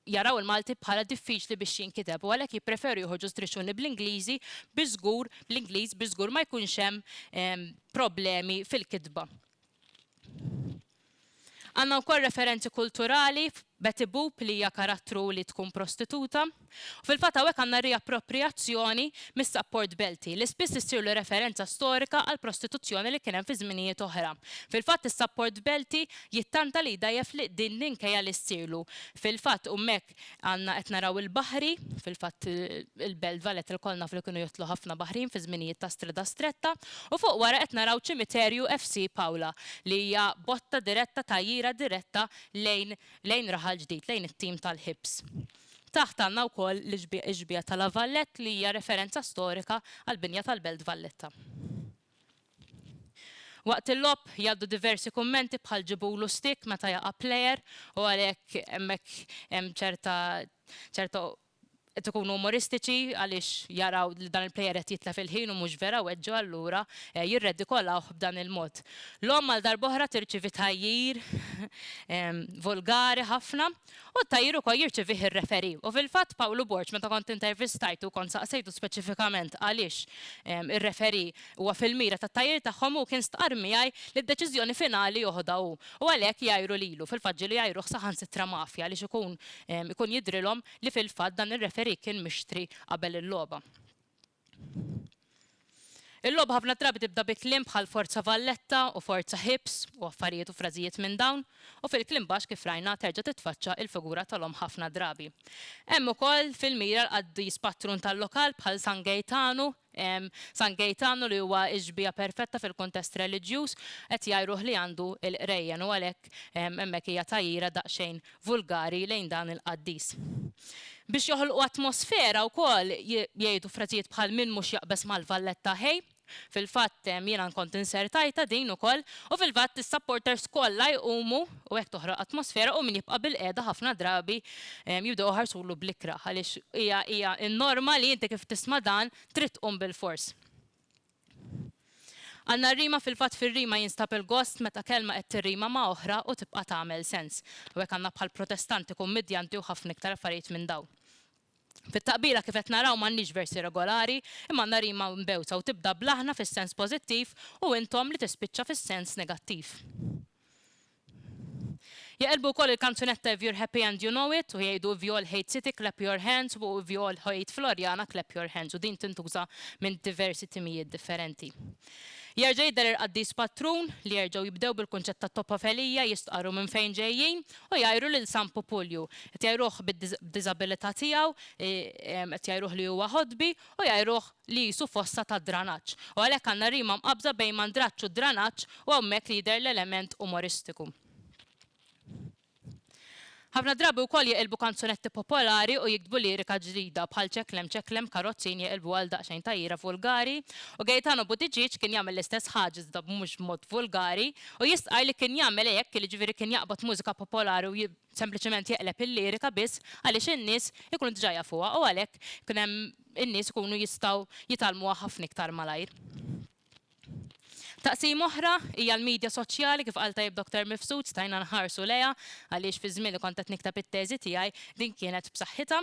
B: jaraw il-Malti bħala diffiċli biex jinkiteb u għalhekk jippreferu joħorġu striċċuni bl-Ingliżi biex żgur, bl-Ingliż biex żgur ma jkunx hemm problemi fil-kitba. Għandna wkoll referenzi kulturali Betty Boop li hija karattru li tkun prostituta. U fil-fatt hawnhekk għandna riapproprijazzjoni mis-sapport Belti li spiss issirlu referenza storika għall-prostituzzjoni li kien hemm fi żminijiet oħra. Fil-fatt is-sapport Belti Jittanta li jdgħajjef li din l-inkejja li ssirlu. Fil-fatt hummek għandna qed naraw il-baħri, fil-fatt il-belt Valle telkolna f'li kienu jotlu ħafna baħrin fi żminijiet ta' strida stretta u fuq wara qed naraw ċimiterju FC Paula li hija botta diretta tgħajjira diretta lejn lejn Raħal Ġdid lejn it-tim tal-Hibs. Taħt għandna wkoll l-ixbieha ta' La Vallette li hija referenza storika għall-binja tal-belt Valletta. Waqt il-logħob jgħaddu diversi kummenti bħal ġibulu stick meta jaqa' player u għalhekk hemmhekk hemm ċerta ċerta qed ikunu umoristiċi għaliex jaraw li dan il-player qed jitlef il-ħin u mhux vera weġġu allura jirredikolawh b'dan il-mod. L-omm għal darb'oħra tirċievi tgħajjir volgari ħafna. U t-tagħjir ukoll jirċevih ir-referee. U fil-fatt Pawlu Borg meta kont intervistajtu u kont saqsejtu speċifikament għaliex ir-referee huwa fil-mira tat-tagħjir tagħhom hu kien stqarr miegħi li d-deċiżjoni finali joħodha hu u għalhekk jgħajru lilu, fil-fatt ġieli jgħajruh saħansitra mafja għaliex ikun ikun jidhrilhom li fil-fatt dan ir-referee kien mixtri qabel il-logħba. Il-logħba ħafna drabi tibda bi kliem bħal forza Valletta u forza Hibs u affarijiet u frażijiet minn dawn u fil-kliem baxx kif rajna terġa' titfaċċa il-figura tal-omm ħafna drabi. Hemm ukoll fil-mira l-qaddis patrun tal-lokal bħal San Gejtanu, San Gejtanu li huwa x-xbieha perfetta fil-kuntest reliġjuż, qed jgħajruh li għandu l-qrejjen u għalhekk hemmhekk hija tgħajjira daqsxejn vulgari lejn dan il-qaddis. Biex joħolqu atmosfera wkoll jgħidu frażijiet bħal min mhux jaqbeż mal-Valletta ħej. Fil-fatt jiena nkont insertajtha din ukoll u fil-fatt is-supporters kollha jqumu u hekk toħroq atmosfera u min jibqa' bilqiegħda ħafna drabi jibdew iħarsulu bl-ikrah għaliex hija hija n-norma li inti kif tisma' dan trid tqum bilfors. Għandna r-rima fil-fatt fir-rima jinstab il-gost meta kelma qed tirrima ma' oħra u tibqa' tagħmel sens. Hawnhekk għandna bħal protestanti, kummidjanti u ħafna iktar affarijiet minn dawn. Fit-taqbila kif qed naraw m'għandniex versi regolari imma għandna rima mbewta u tibda bl-aħna fis-sens pożittiv u intom li tispiċċa fis-sens negattiv. Jaqilbu wkoll il-kanzunetta If you're happy and you know it u jgħidu If you all hate City clap your hands u If you all hate Floriana clap your hands u din tintuża minn diversi timijiet differenti. Jerġa' jidher il-qaddis patrun li jerġgħu jibdew bil-kunċett ta' Toppa Felija jistqarru minn fejn ġejjin u jgħajru lil San Pupulju. Qed jgħajruh bid-diżabilità tiegħu, qed jgħajruh li huwa ħodbi u jgħajruh li qisu fossa tad-dranaġġ, u għalhekk għandna rima mqabbża bejn mandraġġ u dranaġġ u hawnhekk li jidher l-element umoristiku. Ħafna drabi wkoll jeqilbu kanzunetti popolari u jiktbu lirika ġdida, bħal Ċeklem ċeklem karrozzin jeqilbuha għal daqsxejn tgħajjira vulgari, u Gaetano Buttigieg kien jagħmel l-istess ħaġa iżda mhux b'mod vulgari, u jistqarr li kien jagħmel hekk, jiġifieri kien jaqbad mużika popolari u sempliċement jeqleb il-lirika biss għaliex in-nies ikunu diġà jafuha u għalhekk ikun hemm in-nies ikunu jistgħu jitgħallmuha ħafna iktar malajr. Taqsima oħra hija l-midja soċjali kif qal tajjeb Doktor Mifsud stajna nħarsu lejha għaliex fiż-żmien li kont qed nikteb it-teżi tiegħi din kienet b'saħħitha.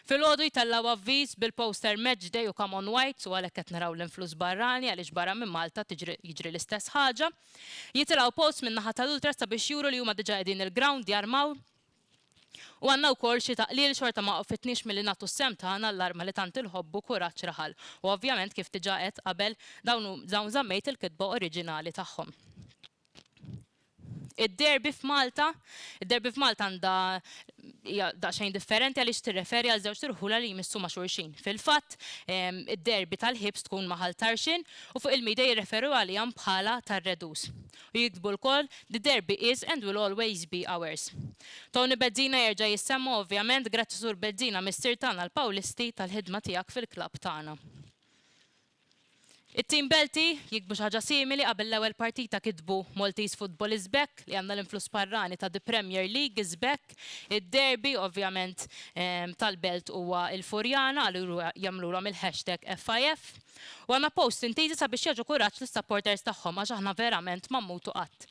B: Filgħodu jtellgħu avviż bil-poster Match Day u Come On Whites u għalhekk qed naraw l-influss barrani għaliex barra minn Malta tiġri jiġri l-istess ħaġa. Jitilgħu posts min-naħa tal-ultras sabiex juru li huma diġa qegħdin il-ground jarmaw u għandna wkoll xi taqlil xorta ma waqfitniex milli nagħtu s-sehem tagħna għall-arma li tant inħobbu kuraġġ raħal u ovvjament kif diġa għedt qabel dawn żammejt il-kitba oriġinali tagħhom. Id-derby f'Malta? Id-Derby f'Malta għandha hija daqsxejn differenti għaliex tirreferi għal żewġt irħula li jmissu ma' xulxin. Fil-fatt, id-Derby tal-Ħibs tkun ma' Ħal Tarxien u fuq il-media jirreferu għalihom bħala tar-Redus. U jiktbu lkoll, The Derby is and will always be ours. Tony Bezzina jerġa' jissemma u ovvjament grazzi Sur Bezzina Missier tagħna l-Pawlisti tal-ħidma tiegħek fil-klabb tagħna. It-tim Belti jiktbu xi ħaġa simili qabel l-ewwel partita kitbu Maltese Football is back li għandna l-influss barrani ta' The Premier League is back. Id-derby ovvjament tal-Belt huwa il-Furjana allura jagħmlulhom il-hashtag FIF. U għandna posts intiżi sabiex jagħġu kuraġġ lis-supporters tagħhom għax aħna verament ma mmutu qatt.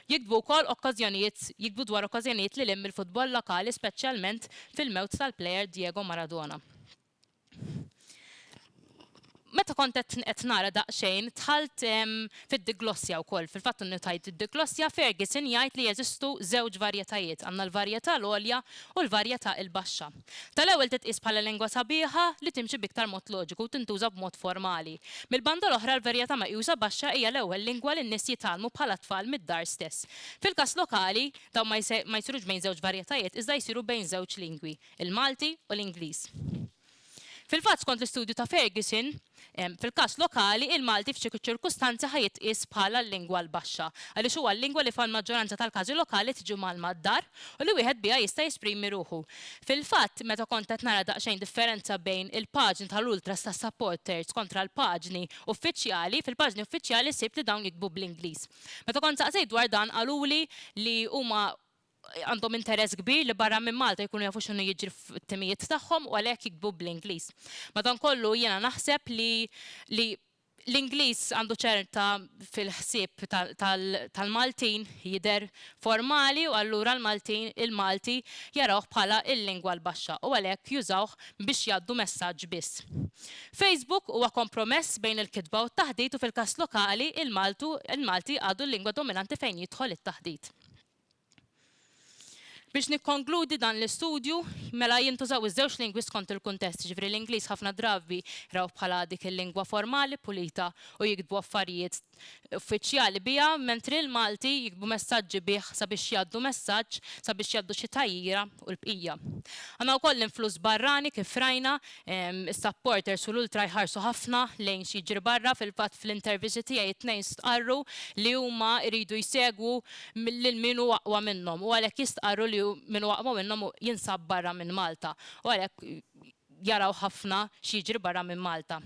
B: Jiktbu wkoll okkażjonijiet jiktbu dwar okkażjonijiet lil hinn mill-futbol lokali speċjalment fil-mewt tal-plejer Diego Maradona. Meta kont qed naqra daqsxejn, dħalt fid-diglossja wkoll. Fil-fatt innutajt id-diglossja, Ferguson jgħid li jeżistu żewġ varjetajiet, għandna l-varjetà l-għolja u l-varjetà il-baxxa. Tal-ewwel titqies bħala lingwa sabiħa li timxi b'iktar mod loġiku u tintuża b'mod formali. Mill-banda l-oħra l-varjetà meqjusa baxxa hija l-ewwel lingwa li n-nies jitgħallmu bħala tfal mid-dar stess. Fil-każ lokali, dawn ma jsirux bejn żewġ varjetajiet iżda jsiru bejn żewġ lingwi. il-Malti u l-Ingliż. Fil-fatt, skont l-istudju ta' Ferguson, fil-każ lokali, il-Malti f'ċertu ċirkustanzi ħa jitqies bħala l-lingwa l-baxxa, għaliex huwa l-lingwa li fal-maġġoranza tal-każi lokali tiġi mgħallma d-dar u li wieħed biha jista' jesprimi ruħu. Fil-fatt, meta kont qed nara daqsxejn differenza bejn il-paġni tal-ultras tas-supporters kontra l-paġni uffiċjali, fil-paġni uffiċjali sibt li dawn jiktbu bl-Ingliż. Meta kont saqsejt dwar dan qaluli li huma għandhom interess kbir li barra minn Malta jkunu jafu x'inhu jiġri fit-timijiet tagħhom u għalhekk jiktbu bl-Ingliż. Madankollu jiena naħseb li li l-Ingliż għandu ċerta fil-ħsieb tal-Maltin jidher formali u allura l-Maltin il-Malti jarawh bħala l-lingwa l-baxxa u għalhekk jużawh biex jgħaddu messaġġ biss. Facebook huwa kompromess bejn il-kitba u t-taħdit u fil-każ lokali il-Maltu il-Malti għadu l-lingwa dominanti fejn jidħol it-taħdit. Biex nikkonkludi dan l-istudju, mela jintużaw iż-żewġ lingwi skont il-kuntest, jiġifieri l-Ingliż ħafna drabi jrawh bħala dik il-lingwa formali, pulita u jiktbu affarijiet uffiċjali biha, mentri l-Malti jiktbu messaġġi bih sabiex jgħaddu messaġġ, sabiex jgħaddu xi tgħajjira u l-bqija. Għandna wkoll l-influss barrani kif rajna, Is-supporters u l-ultra jħarsu ħafna lejn x'jiġri barra, fil-fatt fl-interviċi tiegħi t-tnejn stqarru li huma jridu jsegwu lil min hu aqwa minnhom u għalhekk jistqarru li min hu aqwa minnhom jinsab barra minn Malta u għalhekk jaraw ħafna x'jiġri barra minn Malta.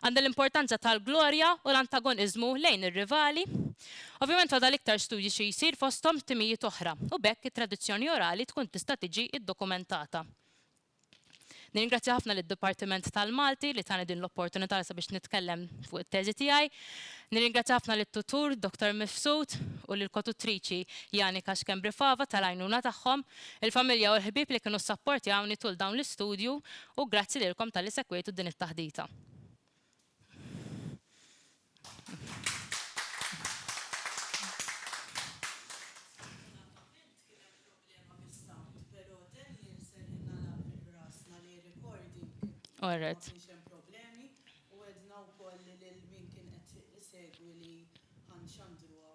B: Għandha l-importanza tal-glorja u l-antagoniżmu lejn ir-rivali. Ovvjament fadal iktar studju xi jsir fosthom timijiet oħra u b'hekk it-tradizzjoni orali tkun tista' tiġi ddokumentata. Nirringrazzja ħafna lid-Dipartiment tal-Malti li tani din l-opportunità sabiex nitkellem fuq it-teżi tiegħi. Nirringrazzja ħafna lit-tutur Dottor Mifsud u lill-kotutriċi Janika Schembri Fava tal-għajnuna tagħhom, il-familja u l-ħbieb li kienu ssapportjawni tul dawn l-istudju u grazzi lilkom talli segwejtu din it-taħdita. Sfortunatament kien hemm problema bis-sound, però Daniel ser jingħalaq minn rasna li r-recording ma kienx hemm problemi u għedna wkoll lil min kien qed isegwi li ħa nxandruha.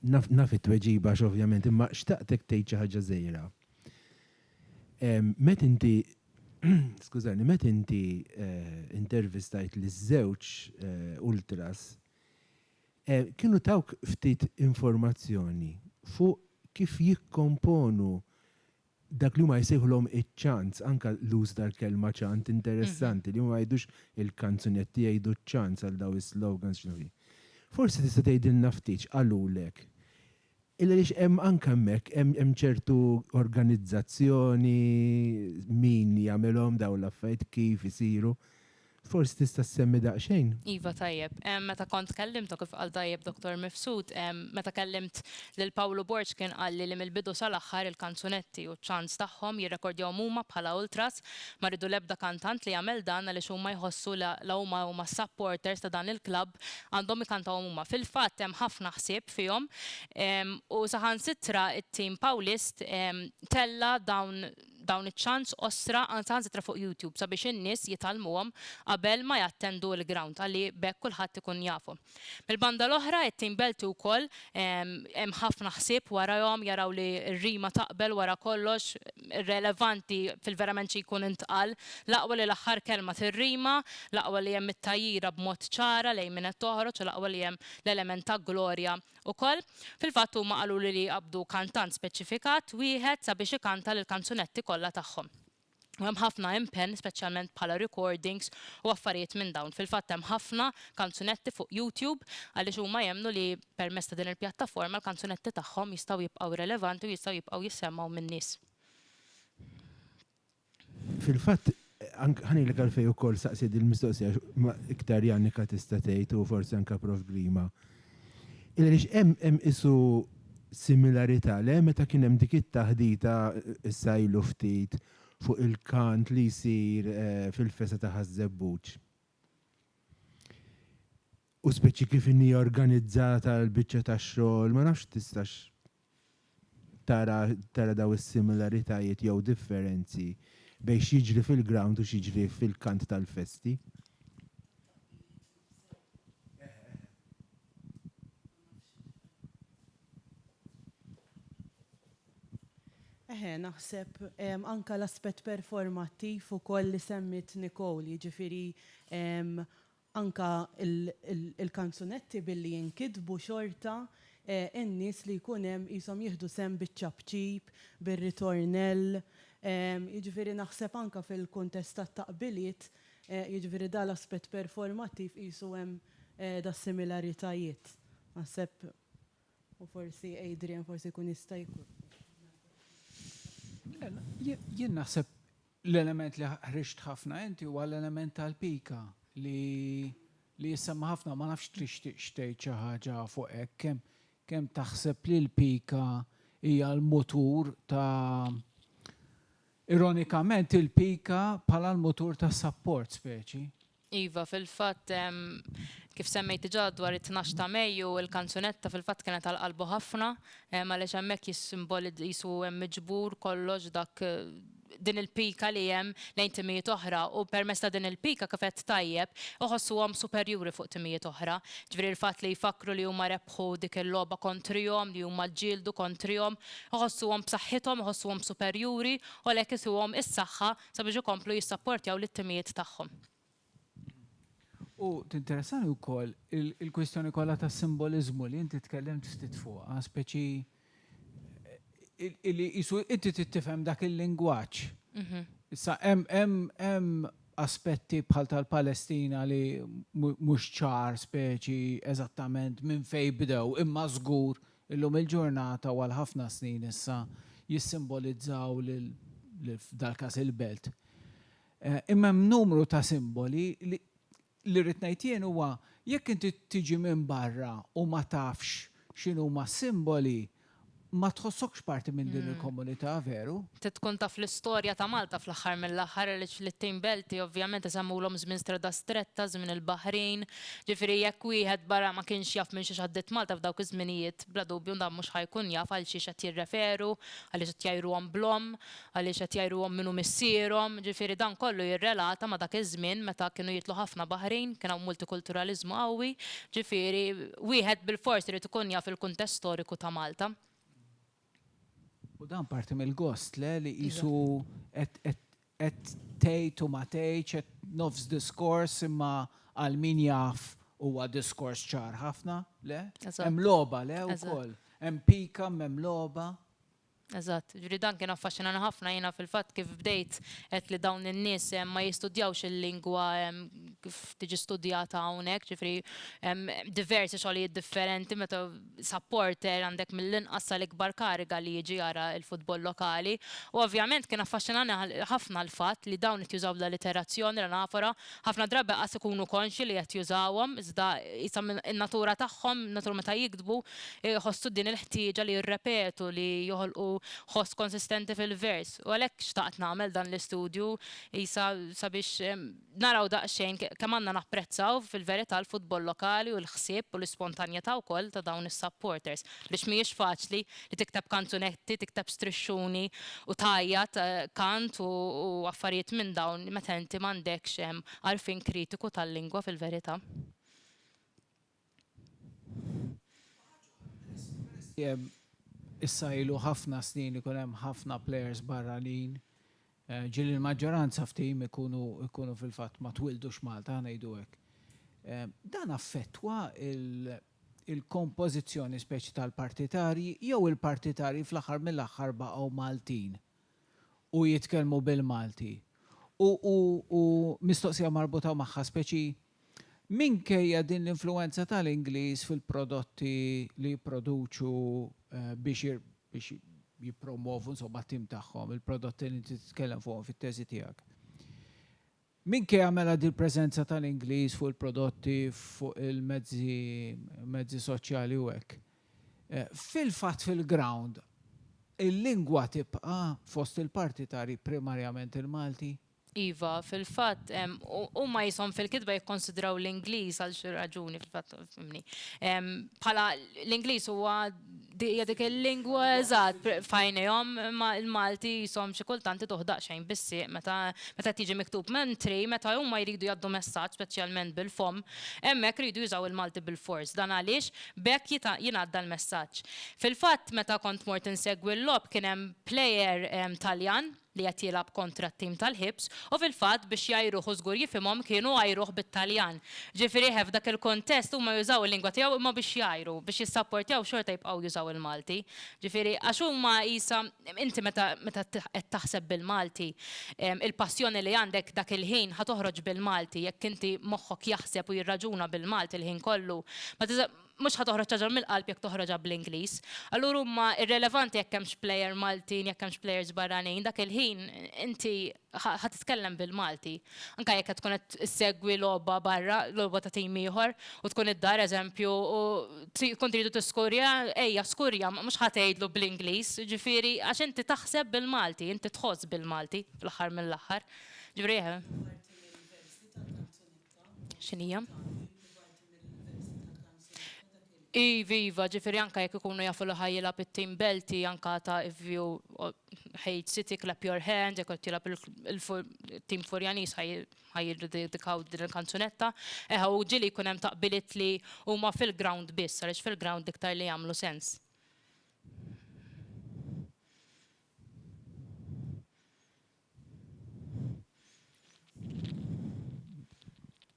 A: Naf, naf it-tweġiba x'ovvjament, imma xtaqtek tgħid xi ħaġa żgħira. Met inti, skużani, met inti eh, intervistajt li żewġ eh, ultras, eh, kienu tawk ftit informazzjoni fuq kif jikkomponu dak li huma jsejħulhom iċ-chants, anke l-użu tal-kelma chant interessanti, li huma ma jgħidux il-kanzunetti jgħidu ċ-chants għal dawn is-slogans x'inhu hi. Forsi tista' tgħidilna ftit x'qalulek? Illa għaliex hemm anke hemmhekk hemm hemm ċertu organizzazzjoni, min jagħmilhom dawn l-affarijiet, kif isiru. Forsi tista' ssemmi daqsxejn? Iva tajjeb.
B: Meta kont tkellimt u kif qal tajjeb Dottor Mifsud, meta kellimt lil Pawlu Borg kien qalli li mill-bidu sal-aħħar il-kanzunetti u ċ-chants tagħhom jirrekordjahom huma bħala ultras, ma rridu l-ebda kantant li jagħmel dan għaliex huma jħossu la la huma huma s-supporters ta' dan il-klabb għandhom ikantawhom huma. Fil-fatt hemm ħafna ħsieb fihom u saħansitra t-tim Pawlist tella' dawn dawn iċ-chants qosra anzi ħansitra fuq YouTube sabiex in-nies jitgħallmuhom qabel ma jattendu il-ground ħalli b'hekk kulħadd ikun jafhom. Mill-banda l-oħra it-team Belti wkoll hemm ħafna ħsieb warajhom jaraw li r-rima taqbel wara kollox irrelevanti fil-verament xi jkun intqal l-aqwa li l-aħħar kelma tirrima, l-aqwa li hemm it-tgħajjira b'mod ċara lejn min qed toħroġ u l-aqwa li hemm l-element ta' glorja Ukoll, fil-fatt huma qaluli li jqabbdu kantant speċifikat wieħed sabiex ikanta l-kanzunetti kollha tagħhom. U hemm ħafna impenn, speċjalment bħala recordings u affarijiet minn dawn. Fil-fatt hemm ħafna kanzunetti fuq YouTube għaliex huma jemmnu li permezz ta' din il-pjattaforma l-kanzunetti tagħhom jistgħu jibqgħu relevanti u jistgħu jibqgħu jissemgħu min-nies.
A: Fil-fatt, ħanilek għalfej ukoll saqsi din mistoqsija ma iktar Janika tista' tgħid u forsi anke Prof Grima. Iliex hemm hemm isu similarità le meta kien hemm dik it-taħdita issa ilu ftit fuq il-kant li jsir eh, fil-festa ta' Ħaż-Żebbuġ. U speċi kif inhi organizzata l-biċċa tax-xogħol, ma nafx tistax tara tara daw is-similaritajiet jew differenzi bejn x'jiġri fil-ground u x'jiġri fil-kant tal-festi.
C: Eħe, naħseb anke l-aspett performattiv ukoll li semmiet Nicole, jiġifieri Anke il-kanzunetti billi jinkitbu xorta n-nies li jkun hemm qishom jieħdu sehem biċ-ċapċip, bir-ritornell. Jiġifieri naħseb anke fil-kuntest tat-taqbiliet, jiġifieri dan l-aspett performattiv qisu hemm das-similaritajiet. Naħseb u forsi Adrian forsi jkun jista' jkun. Le,
D: jien naħseb L-element li ħriġt ħafna inti huwa l-element tal-pika li li jissemma ħafna, ma nafx tixtieqx tgħid xi ħaġa fuq hekk, kemm kemm taħseb li l-pika hija l-mutur ta' ironikament il-pika bħala l-mutur tas-sapport speċi. Iva,
B: fil-fatt, kif semmejt diġà dwar it-tnax ta' Mejju, il-kanzunetta fil-fatt kienet għal qalbu ħafna, għaliex hemmhekk jissimbolizza, qisu hemm miġbur kollox dak, din il-pika li hemm lejn timijiet oħra u permezz ta' din il-pika, kif għedt tajjeb, iħossuhom superjuri fuq timijiet oħra. Ġifieri l-fatt li jfakkru li huma rebħu dik il-logħba kontrihom, li huma ġġieldu kontrihom, iħossuhom b'saħħithom, iħossuhom superjuri u għalhekk isuhom is-saħħa sabiex ikomplu jissapportjaw lit-timijiet tagħhom. U
D: tinteressani wkoll il-kwistjoni kollha tas-simboliżmu li inti tkellimt ftit fuqha, speċi li qisu inti trid tifhem dak il-lingwaġġ. Issa hemm aspetti bħal tal-Palestina li mhux ċar speċi eżattament minn fejn bdew, imma żgur Illum il-ġurnata u għal ħafna snin issa jissimbolizzaw lil, f'dal-każ il-belt. Imma hemm numru ta' simboli li, li rrid ngħid jien huwa jekk inti tiġi minn barra u ma tafx x'inhuma s-simboli, ma tħossokx parti minn din il-komunità, veru? Trid tkun taf
B: l-istorja ta' Malta fl-aħħar mill-aħħar għaliex lit-tnejn belti ovvjament isemmulhom żmien Strada Stretta, żmien il-baħrin, Ġifieri jekk wieħed barra ma kienx jaf minn xiex għaddiet Malta f'dawk iż-żminijiet, bla dubju dan mhux ħa jkun jaf għal xiex qed jirreferu, għaliex qed jgħajruhom bl-omm, għaliex qed jgħajruhom min hu missierhom, ġifieri dan kollu jirrelata ma' dak iż-żmien meta kienu jitlu ħafna Baħrin, kien hawn multikulturaliżmu qawwi, ġifieri wieħed bilfors irid ikun jaf il-kuntest storiku ta' Malta.
D: U dan parti mill-gost, le, li qisu qed Qed tgħid u ma tgħidx, qed nofs diskors imma għal min jaf huwa diskors ċar ħafna, le? Hemm logħba, le wkoll? Hemm pika, m'hemm logħba? Eżatt,
B: ġifieri dan kien affaxxinani ħafna jiena fil-fatt kif bdejt għedt li dawn in-nies ma jistudjawx il-lingwa kif tiġi studjata hawnhekk, ġifieri hemm diversi xogħlijiet differenti meta supporter għandek mill-inqas sal-ikbar kariga li jiġi jara l-futbol lokali u ovvjament kien affaxxinani ħafna l-fatt li dawn qed jużaw l-alliterazzjoni, l-anafora, ħafna drabi qas ikunu konxji li qed jużawhom iżda qisha in-natura tagħhom, in-natura meta jiktbu jħossu din il-ħtieġa li jirrepetu li joħolqu ħoss konsistenti fil-vers u għalhekk xtaqt nagħmel dan l-istudju qisha sabiex naraw daqsxejn kemm għandna napprezzaw fil-verità l-futbol lokali u l-ħsieb u l-ispontanjetà wkoll ta' dawn is-supporters biex mhijiex faċli li tikteb kanzunetti, tikteb strixxuni u tgħajjat kant u affarijiet minn dawn meta inti m'għandekx għarfien kritiku tal-lingwa fil-verità.
D: Issa ilu ħafna snin li jkun hemm ħafna plejers barranin, ġieli l-maġġoranza f'tim ikunu fil-fatt ma twildux Malta, ħa ngħidu hekk. Dan affettwa l-kompożizzjoni speċi tal-partitarji jew il-partitarji fl-aħħar mill-aħħar baqgħu Maltin? u jitkellmu bil-Malti. U u u mistoqsija marbuta magħha speċi minkejja din l-influwenza tal-Ingliż fil-prodotti li jipproduċu biex ir biex jippromwovu insomma t-tim tagħhom, il-prodotti li inti titkellem fuqhom fit-teżi tiegħek. Minkejja mela dil-preżenza tal-Ingliż fuq il-prodotti, fuq il-mezzi mezzi soċjali u hekk, fil-fatt fil-ground il-lingwa tibqa' fost il-partitarji primarjament il-Malti? Iva,
B: fil-fatt huma qishom fil-kitba jikkonsidraw l-Ingliż għal xi raġuni fil-fatt fimni bħala l-Ingliż huwa Di hija dik il-lingwa eżatt f'għajnejhom imma l-Malti jisom xi kultant iduh daqsxejn bis-sieq meta qed jiġi miktub. Mentri meta huma jridu jgħaddu messaġġ speċjalment bil-fomm, hemmhekk iridu jużaw il-Malti bilfors. Dan għaliex b'hekk jingħadda l-messaġġ. Fil-fatt meta kont mort insegwi l-logħob kien hemm plejer Taljan li qed jilgħab kontra t-tim tal-ħibs u fil-fatt biex jgħajruh u żgur jifhimhom kienu għajruh bit-Taljan. Ġifieri eħe f'dak il-kuntest huma jużaw il-lingwa tiegħu imma biex jgħajru, biex jissapportjaw xorta jibqgħu jużaw il-Malti. Ġifieri għax huma qisha inti meta meta qed taħseb bil-Malti il-passjoni li għandek dak il-ħin ħa toħroġ bil-Malti jekk inti moħħok jaħseb u jirraġuna bil-Malti l-ħin kollu ma tista' mhux ħa toħroġ ħaġa mill-qalb jekk toħroġha bl-Ingliż. Allura huma irrelevanti jekk hemmx plejer Maltin, jekk hemmx plejers barranin, dak il-ħin inti ħa titkellem bil-Malti. Anke jekk qed tkun qed issegwi logħba barra, logħba ta' tim ieħor, u tkun id-dar eżempju u tkun tridu tiskurja, ejja skurja, mhux ħa tgħidlu bl-Ingliż, jiġifieri għax inti taħseb bil-Malti, inti tħoss bil-Malti fl-aħħar mill-aħħar. Ġifieri. X'inhija? Iviva, ġifieri anke jekk ikunu jafu li ħa jilgħab it-team Belti anke ta' if you hate City clap your hands, jekk qed jilgħab it-team Furjaniż ħa jiddedikaw din il-kanzunetta. Eħe u ġieli jkun hemm taqbiliet li huma fil-ground biss għaliex fil-ground l-iktar li jagħmlu sens.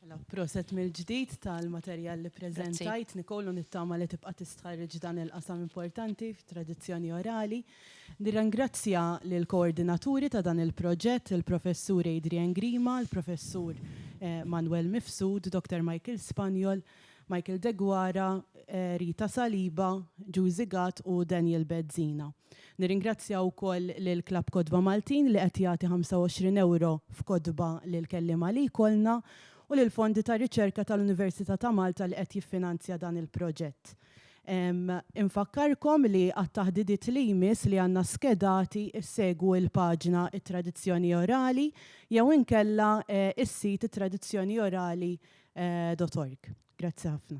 C: Mela, proset mill-ġdid tal-materjal li preżentajt, Nicole, u nittama li tibqa' tistħarriġ dan il-qasam importanti fit-tradizzjoni orali. Nirringrazzja lill-koordinaturi ta' dan il-proġett, il-Professur Adrian Grima, il-Professur Manwel Mifsud, Dottor Michael Spaniol, Michael Deguara, Rita Saliba, Giusy Gatt u Daniel Bezzina. Nirringrazzja wkoll lil Klabb Kotba Maltin li qed jagħti ħamsa u għoxrin ewro f'kotba lill-kelliema li jkollna u lill-Fondi ta' Riċerka tal-Università ta' Malta li qed jiffinanzja dan il-proġett. Infakkarkom li għat-taħdidiet li jmiss li għandna skedati ssegwu il-paġna It-Tradizzjoni Orali jew inkella is-sit ittradizzjoniorali dot org. Grazzi ħafna.